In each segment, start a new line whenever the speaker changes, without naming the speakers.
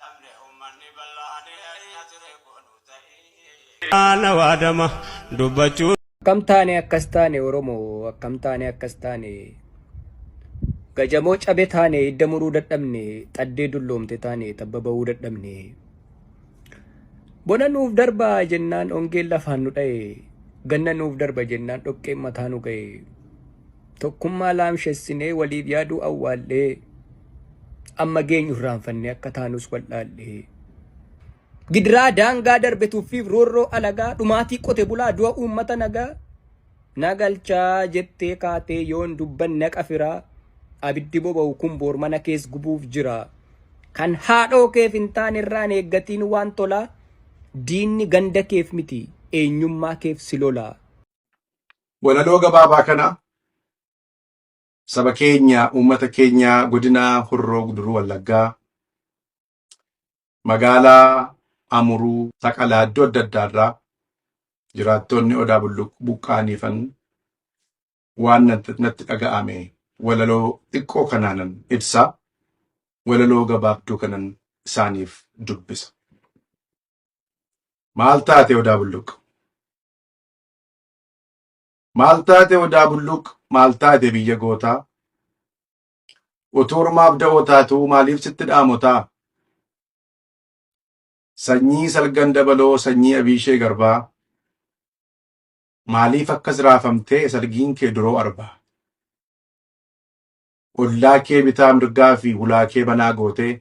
cabne ummanni bal'aani ayii ati reekkoo nuu ta'ii. Ana waadama dubbachuu. Akkam taane
akkas taane oromo akkam taane akkas taane gajamoo cabe taane idda muruu dadhabne xaddee dulloomte taane tabba ba'uu dadhabne bona nuuf darba jennaan ongeen lafaan nu dha'e ganna nuuf darba jennaan dhoqqeen mataa nu ga'e Tokkummaa laamshessinee waliif yaaduu awwaallee amma geenyu irraanfannee akka taanus wal'aallee. Gidiraa daangaa darbe tuffiif roorroo alagaa dhumaatii qote bulaa du'a uummata nagaa na galchaa jettee kaatee yoon dubbanne haqa firaa abiddi boba'u kun boor mana kees gubuuf jira. Kan haadhoo keef hin taane irraan eeggatiin waan tolaa diinni ganda keef miti eenyummaa keef si lolaa.
Walaloo gabaabaa kana saba keenya, uummata keenya godina Horroo Guduruu Wallaggaa magaalaa Amuruu, Saqalaa iddoo adda addaa irraa jiraattoonni Odaa Bulluq buqqa'aniifan waan natti natti dhaga'ame walaloo xiqqoo kanaanan ibsa. Walaloo gabaabduu kanan isaaniif dubbisa. Maal taate Odaa Bulluq? Maal taate odaa bulluq maal taate biyya gootaa utuu ormaaf da'oo taatuu maaliif sitti dhaamotaa sanyii salgan dabaloo sanyii abiishee garbaa maaliif akkas raafamtee salgiin kee duroo arbaa ollaa kee bitaa mirgaa fi hulaa kee banaa gootee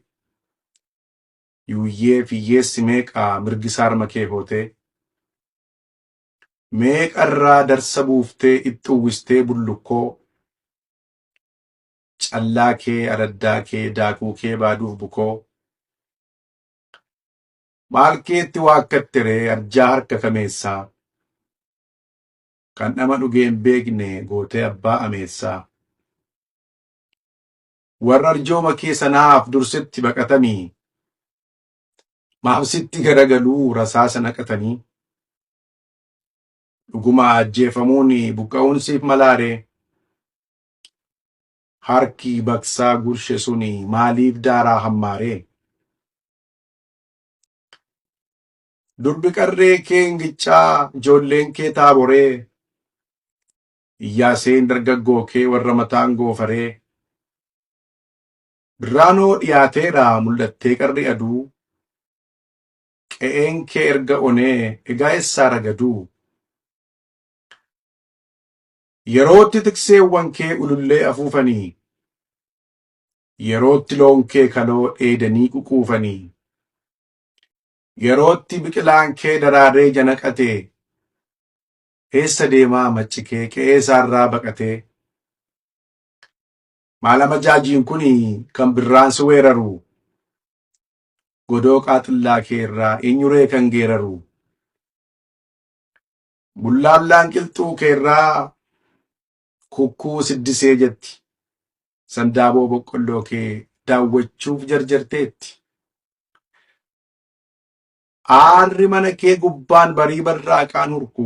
yuuyyee fiyyeessi meeqaa mirgisaarma kee hootee Meeqarraa darsa buuftee itti uwwistee bullukkoo Callaa kee araddaa kee daakuu kee baaduuf bukoo Maal keetti waakkatte ree arjaa harka kameessaa Kan dhama dhugee hin beekne gootee abbaa ameessaa Warra arjooma kee sanaaf dursitti baqatamii Maaf sitti garagaluu rasaasa naqatanii? Dhuguma ajjeefamuun buqqa'uun siif malaaree? Harki baqsaa gurshe suni maaliif daaraa hammaaree? Durbi qarree kee ingichaa ijoolleen kee taaboree? Iyyaaseen dargaggoo kee warra mataan goofaree? Birraanoo dhiyaateera mul'attee qarri aduu qe'een kee erga onee egaa essaa ragaduu yerootti tikseewwan kee ulullee afuufanii yerootti loon kee kaloo dheedanii ququufanii yerootti biqilaan kee daraaree janaqatee eessa deemaa macci kee qe'ee isaarraa baqatee Maal amajaajiin kun kan birraan si weeraru godoo qaaxillaa kee irraa eenyuree kan geeraru bullaablaan qilxuu kee irraa kukkuu siddisee jetti sandaaboo boqqolloo kee daawwachuuf jarjarteetti. Aarri mana kee gubbaan barii barraaqaan hurku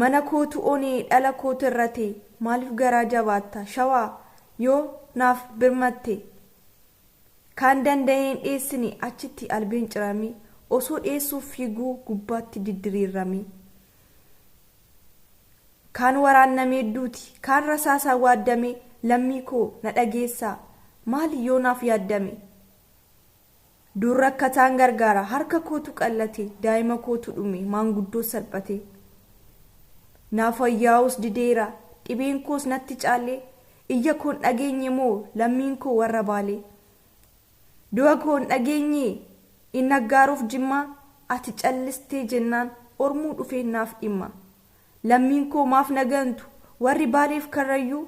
Mana kootu oni dhala kootu irrati maalif garaa jabaatta shawaa yoo naaf birmatte kaan danda'ee hin dheessini achitti albeen cirami osoo dheessuuf fiiguu gubbaatti diddiriirrami kaan waraannamee duuti kaan rasaasaan waaddame lammii koo na dhageessaa maali yoo naaf yaaddame. Dur rakkataan gargaara, harka kootu qal'ate, daa'ima kootu dhume, maanguddoo salphate. Naaf wayyaa'uus dideera, dhibeen koos natti caale, iyya koo hin dhageenye moo lammiin koo warra Baale? Du'a koo hin dhageenyee? Inni aggaaruuf Jimmaa, ati callistee jennaan ormuu dhufee naaf dhimma. Lammiin koo maaf na gantu, warri Baaleef Karrayyuu,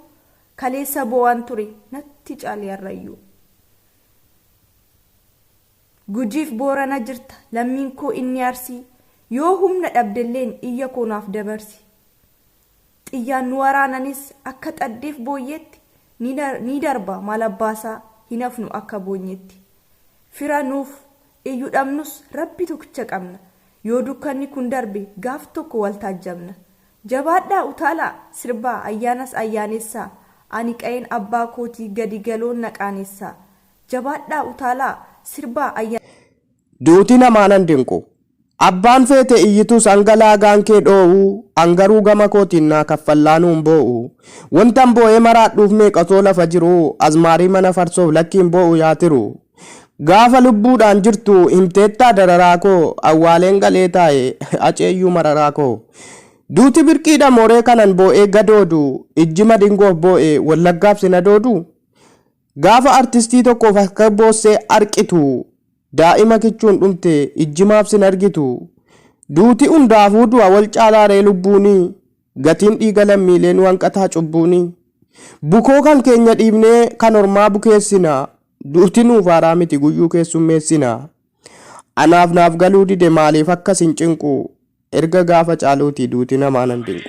kaleessa boo'aan ture, natti caale har'ayyuu. Gujiif Boorana jirta lammiin koo inni Arsii Yoo humna dhabdelleen iyya koo naaf dabarsi Xiyyaan nu waraananis akka xaddeef booyyeetti Ni darba maal abbaasaa hin hafnu akka boonyeetti Fira nuuf iyyu dhabnus Rabbi tokicha qabna Yoo dukkanni kun darbe gaaf tokko wal taajjabna Jabaadhaa utaalaa! Sirbaa ayyaanas ayyaaneessaa! Ani qa'een abbaa kootii gadi galoon na qaaneessaa! Jabaadhaa utaalaa! Sirbaa ayyaanas. Duuti
namaa nan dinqu. Abbaan feete iyyitus hanga laagaan kee dhoo'u an garuu gama kootiin naa kaffallaanuun boo'u Wontan boo'ee maraadhuuf meeqatoo lafa jiru Azmaarii mana farsoof lakki hin boo'u yaa tiru Gaafa lubbuudhaan jirtu himteettaa dararaa koo Awwaaleen galee taa'e Haceeyyuu mararaa koo Duuti birqiidha mooree kanan boo'ee gadoodu Ijji madingoof boo'e Wallaggaaf sin adoodu Gaafa artistii tokkoof akka boossee arqitu Daa'ima kichuun dhumte ijji maaf sin argitu Duuti hundaafuu du'a wal caalaa ree lubbuunii Gatiin dhiiga lammiilee nu hanqataa cubbuuni. Bukoo kan keenya dhiibnee kan ormaa bukeessina. Duuti nuuf haaraa miti guyyuu keessummeessina. Anaaf naaf galuu dide maaliif akka sin cinqu. Erga gaafa caaluuti duuti namaa nan dinqu.